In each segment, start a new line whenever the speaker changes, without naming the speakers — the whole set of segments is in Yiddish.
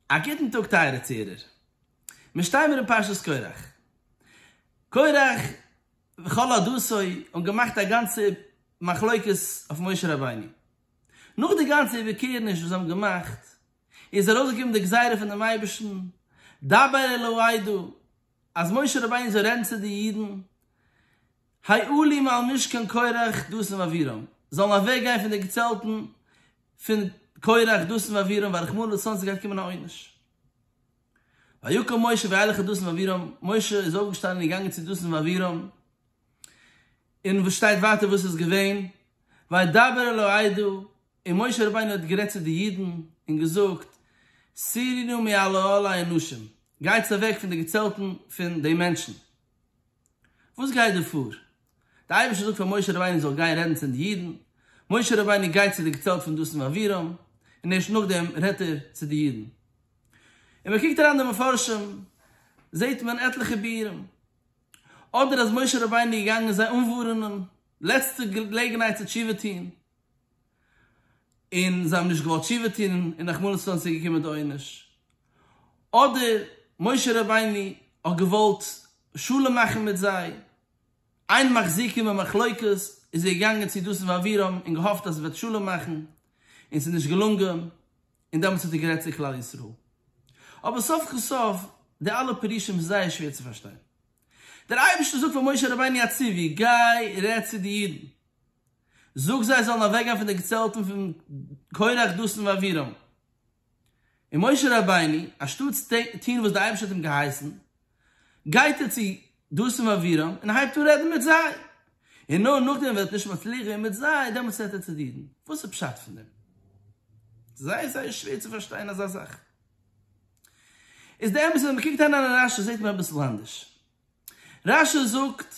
א גוטן טאג טייערע צוהערער. מיר שטיימער אין פרשת קורח. קורח וכל עדתו האבן געמאכט א גאנצע מחלוקת אויף משה רבינו. נאך די גאנצע איבערקערעניש וואס זיי האבן געמאכט, איז ארויסגעקומען די גזירה פון דעם אייבערשטן, דבר אל העדה, אז משה רבינו זאל רעדן צו די אידן, היו לי מעל משכן קרח דתן ואבירם, זאלן אוועק גיין פון די געצעלטן פון קרח דתן ואבירם ווייל רחמנא לצלן ס'גייט קומען א עונש. ויקום משה וילך אל דתן ואבירם, משה איז אויפגעשטאנען און געגאנגען צו דתן ואבירם, און וואס שטייט ווייטער וואס איז געווען, וידבר אל העדה, און משה רבינו האט גערעדט צו די אידן און געזאגט, סירי נא מעל אהלי האנשים, גייטס אוועק פון די געצעלטן פון די מענטשן, וואס גייט דא פאר? דער אייבערשטער זאגט פאר משה רבינו זאל גיין רעדן צו די אידן, משה רבינו גייט צו די געצעלט פון דתן ואבירם, און ערשט נאכדעם רעדט ער צו די אידן. און מען קוקט אריין די מפרשים זעט מען עטליכע ביאורים, אדער אז משה רבינו איז געגאנגען זיי אנווארענען, לעצטע געלעגנהייט צו תשובה טון. און זיי האבן נישט געוואלט תשובה טון און רחמנות איז אונז צוגעקומען די עונש, אדער משה רבינו האט געוואלט שלום מאכן מיט זיי, אין מחזיקים במחלוקת איז ער געגאנגען צו דתן ואבירם און געהאפט אז עס וועט שלום מאכן, און עס איז נישט געלונגען, און דעמאלטס האט ער גערעדט צו כלל ישראל. אבער סוף כל סוף די אלע פירושים איז זייער שווער צו פארשטיין. דער אייבערשטער זאגט פאר משה רבינו א ציווי, גיי רעד צו די אידן. זאג זיי זאלן אוועקגיין פון די געצעלטן פון קרח דתן ואבירם. און משה רבינו, אנשטאטס טון וואס דער אייבערשטער האט אים געהייסן, גייט ער צו דתן ואבירם און הייבט אן רעדן מיט זיי, און נאר נאכדעם ווען ער וועט נישט מצליח ווערן מיט זיי, דעמאלטס רעדט ער צו די אידן. וואס איז פשט פון דעם? זייער זייער שווער צו פארשטיין אזא זאך. איז די אמת אז ווען מען קוקט אריין אין רשי זעט מען אביסל אנדערש. רשי זאגט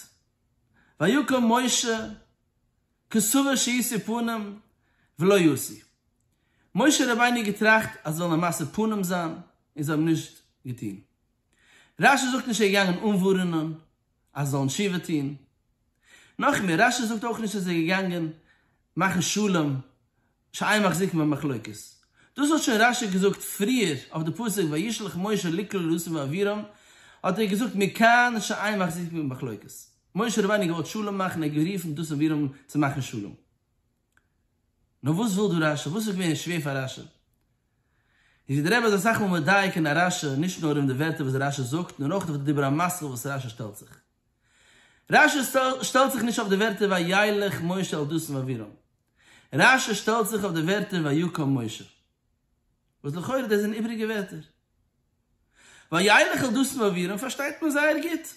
ויקום משה כסבר שישא פנים ולא ישא, משה רבינו האט געטראכט אז זאל ער משא פנים זיין און זיי האבן נישט געטון, רש י זאגט נישט ער איז געגאנגען אנווארענען אז זיי זאלן תשובה טון, נאכמער רש י זאגט אויך נישט ער איז געגאנגען מאכן שלום שייע מחזיק מהמחלוקת. דאס האט שוין רשי געזאגט פריער אויף די פסוק וישלח משה לקלל לוסן ואבירם, האט ער געזאגט מכאן שייע מחזיק מהמחלוקת. משה רבינו האט געוואלט שלום מאכן און ער האט גערופן דאסן אבירם צו מאכן שלום. נאר וואס וויל דא רשי? וואס איז געווען שווער פאר רשי? איז ווי דער רבי איז אסאך מאל מדייק אין א רשי נישט נאר אויף די ווערטער וואס רשי זאגט נאר אויך אויף די דיבור המשכיל וואס רשי שטעלט זיך. רשי שטעלט זיך נישט אויף די ווערטער וילך משה אל דוסן ואבירם. רש י שטעלט זיך אויף די ווערטער ויקום משה, וואס לכאורה דאס זענען איבריגע ווערטער. וילך אל דתן ואבירם פארשטייט מען זייער גוט,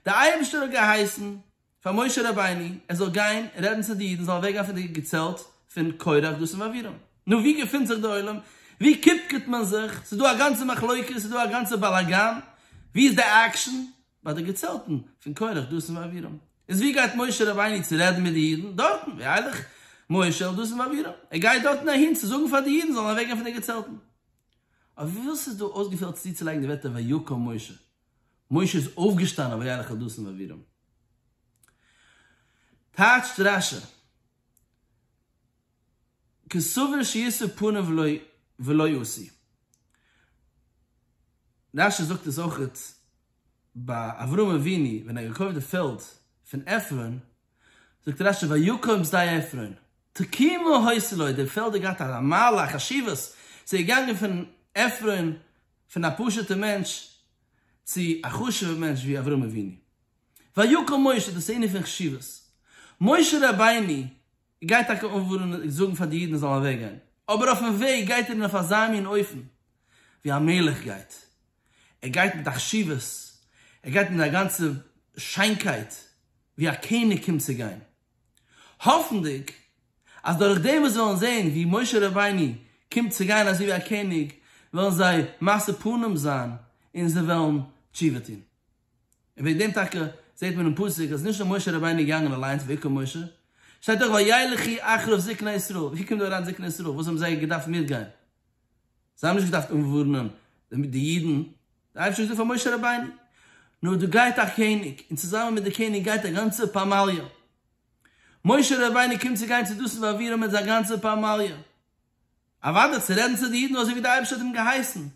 דער אייבערשטער האט געהייסן פאר משה רבינו ער זאל גיין רעדן צו די אידן זאלן אוועקגיין פון די געצעלט פון קרח דתן ואבירם, נו ווי געפינט זיך די עולם? ווי קופקעט מען זיך? ס'איז דא א גאנצע מחלוקת, ס'איז דא א גאנצע באלאגאן, ווי איז די עקשן? ביי די געצעלטן פון קרח, דתן ואבירם. איז ווי גייט משה רבינו צו רעדן מיט די אידן? דארטן, ויילך משה אל דתן ואבירם, ער גייט דארטן אהין צו זאגן פאר די אידן זאלן אוועקגיין פון די געצעלטן. אויף וואס איז דא אויסגעפעלט צוצולייגן די ווערטער ויקום משה? משה איז אויפגעשטאנען ויילך אל דתן ואבירם. טייטשט רשי. כסבור שישא פניו ולא ולא ישא. רש י זאגט עס אויכעט ביי אברהם אבינו ווען ער האט געקויפט די פעלד פון עפרון, זאגט רש י ויקום שדה עפרון תקימו הויז לו, די פעלד האט געהאט א מעלה א חשיבות, ס'איז געגאנגען פון עפרון פון א פשוט'ע מענטש צו א חשוב'ע מענטש ווי אברהם אבינו. ויקום משה דאס איז ענין פון חשיבות. משה רבינו ער גייט טאקע אנווארענען און זאגן פאר די אידן זיי זאלן אוועק גיין, אבער אויפן וועג גייט ער אין אויף אזא מין אופן ווי א מלך גייט, ער גייט מיט א חשיבות, ער גייט מיט א גאנצע שיינקייט ווי א קעניג קומט צו גיין, האפנדיג אז דורך דעם וואס זיי וועלן זען ווי משה רבינו קומט צו גיין אזוי ווי א קעניג, וועלן זיי משא פנים זיין און זיי וועלן תשובה טון. און וועגן דעם טאקע זעט מען אין פסוק אז נישט נאר משה רבינו איז געגאנגען אליינס ויקם משה, שטייט דאך וילכי אחריו זקני ישראל, ווי קומט דא אריין זקני ישראל, וואס האבן זיי געדארפט מיטגיין? זיי האבן נישט געדארפט אנווארענען די אידן, דער אייבערשטער האט געזאגט פאר משה רבינו, נו דא גייט א קעניג, און צוזאמען מיט די קעניג גייט א גאנצע פמליא, משה רבינו קומט צו גיין צו דאסן ואבירם מיט זיין גאנצע פמליא. אוודאי צו רעדן צו די אידן אזוי ווי די אייבערשטער האט אים געהייסן,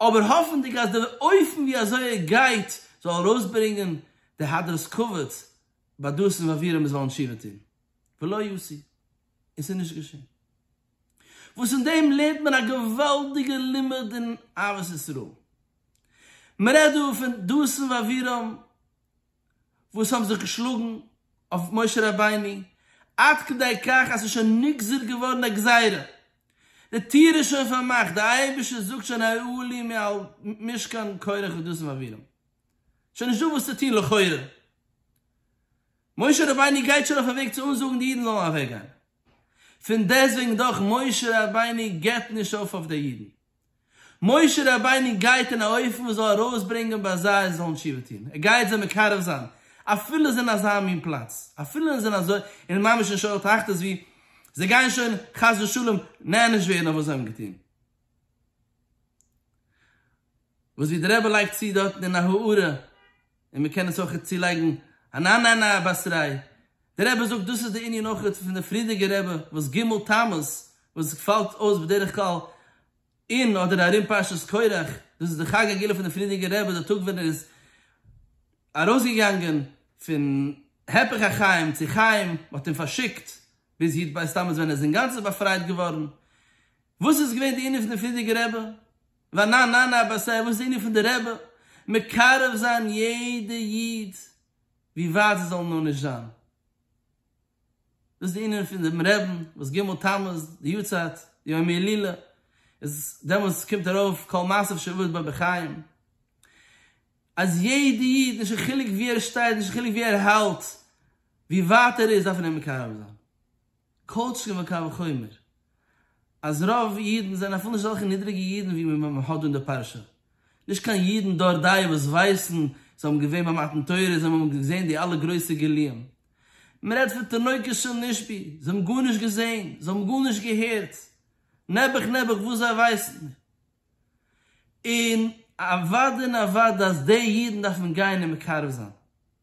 אבער האפנדיג אז די אופן ווי אזוי ער גייט זאל ארויסברענגען די הדרת כבוד ביי דאס און ווער אים עס וועלן תשובה טון, ולא יעשי, און ס'איז נישט געשען. וואס אין דעם לערנט מען א געוואלדיגע לימוד אין אהבת ישראל. מ'רעדט דא פון דאסן ואבירם. וואס האבן זיך געשלאגן אויף משה רבינו עד כדי כך אז ס'איז שוין נגזר געווארן א גזירה, די טיר איז שוין פארמאכט, די אייבערשטער זאגט שוין העלו לי מעל משכן קורח ודסים אבירם, שוין נישטא וואס צו טון לכאורה, משה רבינו גייט שוין אויפן וועג צו אנזאגן די אידן זאלן אוועקגיין, פון דעסטוועגן דאך משה רבינו גיבט נישט אויף אויף די אידן, משה רבינו גייט אין א אופן וואס זאל ארויסברענגען ביי זיי זיי זאלן תשובה טון, ער גייט זיי מקרב זיין, אפילו זיי אין אזא מין פלאץ, אפילו זיי זענען אזוי אין ממש אין שאול תחתית ווי זיי גייען שוין חס ושלום נענש ווערן אויף וואס זיי האבן געטון. וואס ווי די רבי לייגט צו דארטן אין א הארה. און מען קען עס אויך צולייגן אן אננא באסריי, דער רבי זאגט דאס איז די ענין אויך פון די פרידיגע רבי וואס ג' תמוז וואס פאלט אויס בדרך כלל אין אדער ארום פרשת קורח, דאס איז די חג הגילוי פון די פרידיגע רבי די טאג ווען ער איז ארויסגעגאנגען פון הפך החיים צו חיים מען האט אים פארשיקט ביז י' ב' תמוז ווען ער איז אינגאנצן באפרייט געווארן, וואס איז געווען די ענין פון די פרידיגע רבי ואנא נענה אבא סיי וואס איז די ענין פון די רבי מקרב זיין יעדע איד ווי ווייט זיי זאלן נאר נישט זיין? וואס איז די ענין פון דעם רעבן וואס ג' תמוז די יארצייט די יום הילולא איז דעמאלטס קומט ארויף כל מעשיו שעבוד בו בחיים אז יעדע איד נישט קיין חילוק ווי ער שטייט נישט קיין חילוק ווי ער האלט ווי ווייט ער איז דארף מען אים מקרב זיין? כל שכן וקל וחומר אז רוב אידן זענען אפילו נישט אזעלכע נידריגע אידן ווי מען מען האט דא אין די פרשה. נישט קיין אידן דור דאי וואס ווייסן, זיי האבן געווען ביי מתן תורה, זיי האבן געזען די אלע גרויסע גילויים. מען רעדט פון תינוקות של נשבי, זיי האבן גארנישט געזען, זיי האבן גארנישט געהערט, נעבעך נעבעך וואס זיי ווייסן. און אוודאי און אוודאי אז די אידן דארף מען גיין און מקרב זיין.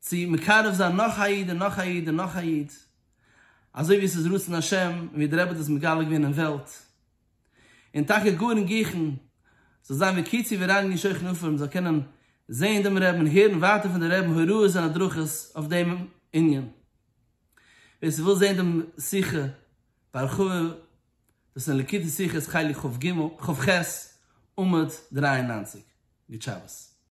צו מקרב זיין נאך א איד און נאך א איד און נאך א איד, אזוי ווי עס איז רצון השם און ווי דער רבי האט עס מגלה געווען אין וועלט, און טאקע גאר אין גיכן, זאל זיין ווי קיצי ווי רייניגן שוכן אפרים מען זאל קענען זען דעם רבי'ן און הערן ווייטער פון דעם רבי'ן הוראות און הדרכות אויף דעם ענין. ווער ס'וויל זען דעם שיחה בהרחבה, דאס איז אין ליקוטי שיחות חלק כ ח עמוד דרײַ און נײַנציק. גוט שבת.